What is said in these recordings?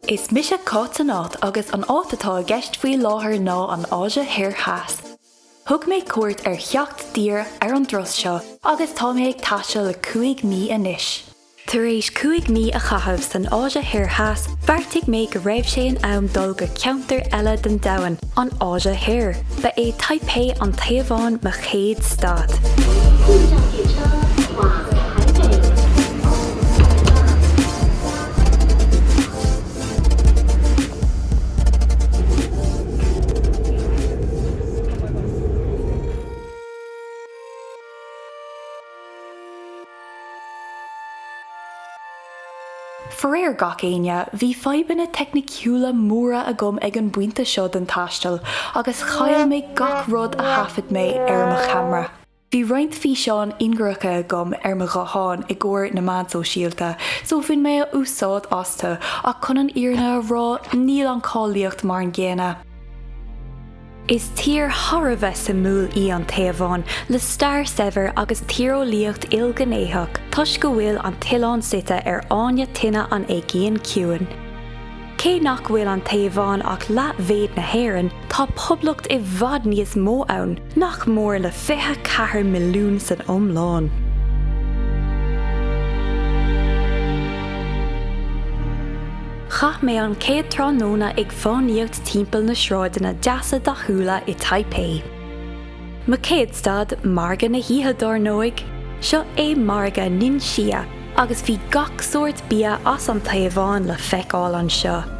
Is mise Cáit Anát agus an áit atá i gceist faoi láthair ná an Áise Thoir Theas. Thug mé cuairt ar sheacht dtír ar an dturas seo agus tá mé ag taisteal le cúig mí anois. Tar éis cúig mí a chaitheamh san Áise Thoir Theas, bheartaigh mé go raibh sé in am dul go ceantar eile den domhan, an Áise Thoir. Ba é Taipei, an Téaváin, mo chéad stad. Faraor gach éinne, bhí fadhbanna teicniciúla móra agam ag an bpointe seo den taisteal agus chaill mé gach rud a thaifead mé ar mo cheamra. Bhí roinnt físeáin ingearacha agam ar mo ghuthán i gcomhair na meán sóisialta so bhain mé úsáid astu ach chun an fhírinne a rá níl an cháilíocht mar an gcéanna. Is tír thar a bheith suimiúil í an Téaváin le stair shaibhir agus tíreolaíocht ilghnéitheach toisc go bhfuil an t-oileán suite ar fháinne tine an Aigéin Chiúin. Cé nach bhfuil an Téaváin ach leathmhéid na hÉireann, tá poblacht i bhfad níos mó ann, nach mór le fiche ceathair milliún san iomlán. Chaith mé an chéad tráthnóna ag fánaíocht timpeall na sráideanna deasa dathúla i Taipei. Mo chéad stad, margadh na hoíche dár ndóigh! Seo é margadh Ningxia, Agus bhí gach sórt bia as an Téaváin le feiceáil anseo.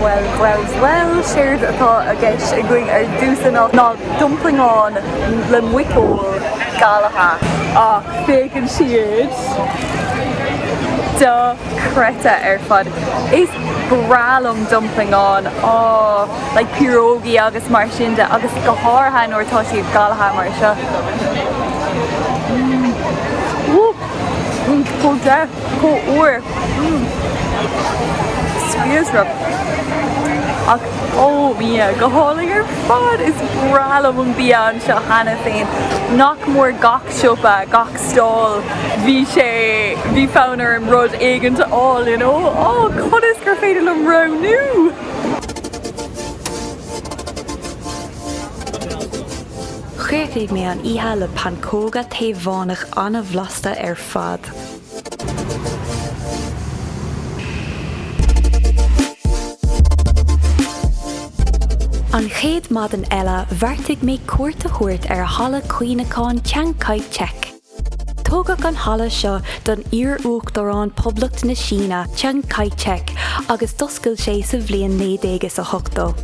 Bhuel, bhuel, bhuel, séard atá i gceist againn ar dtús anocht ná domplaigháin le muiceoil galaithe ach féachann siad dochreidte ar fad. Is breá liom domplaigháin, aww, le pierogi agus mar sin de agus go háirithe nuair atá siad galaithe mar seo. Mmm, woo, mmm, chomh deas! Comhar, mm, spleodrach ach oh bia go hálainn ar fad! Is breá liom an bia anseo cheana féin. Nach mór gach siopa, gach stall, bhí sé, bhí fonn orm rud éigint a fháil you know. Ó conas gur féidir liom roghnú! Chríochnaigh mé an oíche le pancóga Téavánach an-bhlasta ar An chéad maidin eile bheartaigh mé cuairt a thabhairt ar Halla Cuimhneacháin Chiang Kai-shek. Tógadh an halla seo don iar-uachtarán Poblacht na Síne, Chiang Kai-shek, agus d'oscail sé sa bhliain naoi déag is a hochtó.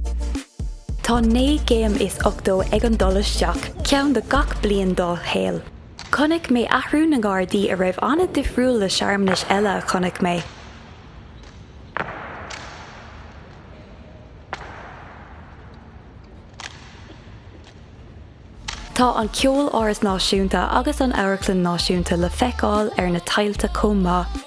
Tá naoi gcéim is ochtó ag an dul isteach, ceann do gach bliain dá shaol. Chonaic mé athrú na nGardaí a raibh an-difriúil le searmanais eile a chonaic mé. Tá an Ceoláras Náisiúnta agus an Amharclann Náisiúnta le feiceáil ar na tailte chomh maith.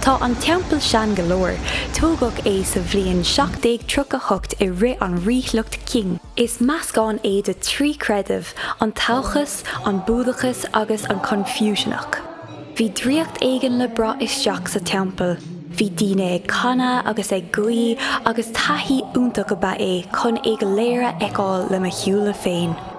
Tá an teampall sean go leor. Tógadh é sa bhliain 1738 i rith an ríshliocht Qing. Is meascán é de trí creideamh, an Taochas, an Búdachas agus an Confucianach. Bhí draíocht éigin le braith isteach sa teampall. Bhí daoine ag canadh agus ag guí agus taithí iontach ab ea é chun é go léir a fheiceáil le mo shúile féin.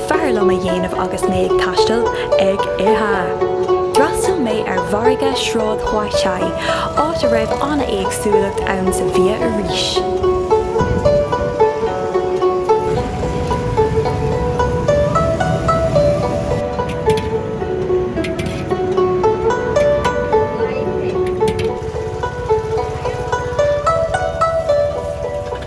bhfearr liom a dhéanamh agus mé ag taisteal, ag ithe. D'fhreastal mé ar mhargadh Sráid Huaxi, áit a raibh an-éagsúlacht ann sa bhia arís.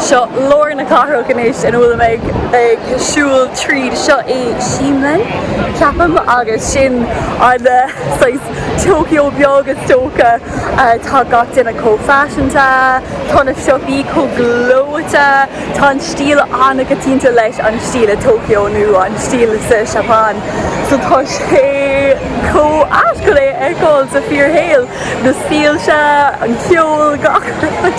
Seo lár na cathrach anois ina bhfuilim ag siúl tríd. Seo é Ximen, ceapaim, agus sin an saghas Tokyo beag is dócha. Tá gach duine chomh faiseanta, tá na siopaí chomh gleoite. Tá an stíl an-choitianta leis an stíl i Tokyo nó an stíl sa Seapáin so tá sé chomh ait chun é a fheiceáil sa fíorshaol, na soilse, an ceol, gach rud.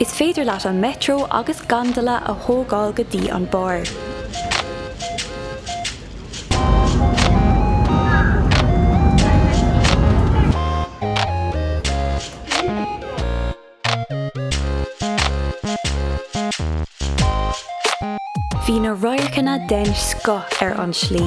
Is féidir leat an Metro agus gondola a thógáil go dtí an barr. Bhí na radharcanna den scoth ar an tslí.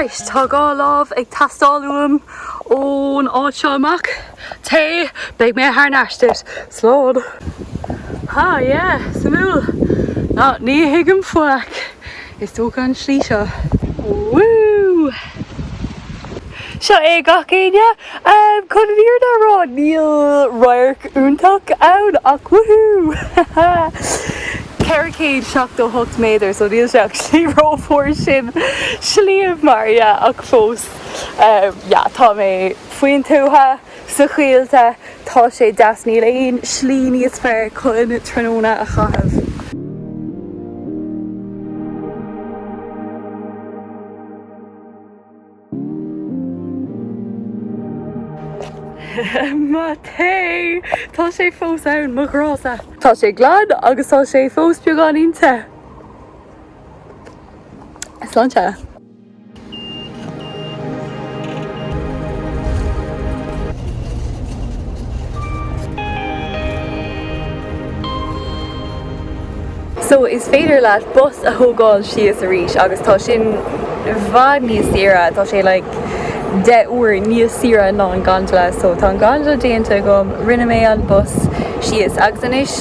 Right, tá an dá lámh ag teastáil uaim ón áit seo amach. Tae, beidh mé thar n-ais duit. Slán. Ha, yeah, suimiúil. Nah, ní thuigim faic. Is dócha an slí seo. Woo! Seo é gach éinne. Chun an fhírinne a rá níl radharc iontach ann ach woohoo! 478 méadar so níl sé actually chomh mór sin mar shliabh, yeah ach fós yeah tá mé faoin tuath. Sa choill tá sé deas. Níl aon slí níos fearr chun tráthnóna a chaitheamh. Mo tae! Tá sé fós ann, mo ghrá-sa. Tá sé glan agus tá sé fós beagáinín te. Sláinte. So is féidir leat bus a thógáil síos arís agus tá sin i bhfad níos saoire, tá sé like deich uair níos saoire ná an gondola. So tá an gondola déanta agam, rinne mé an bus síos agus anois,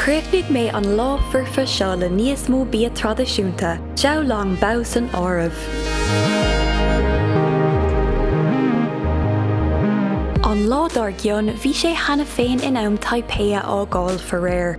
Chríochnaigh mé an lá foirfe seo le níos mó bia traidisiúnta, Xiao Long Bao san áireamh. An lá dár gcionn, bhí sé cheana féin in am Taipei a fhágáil, faraor.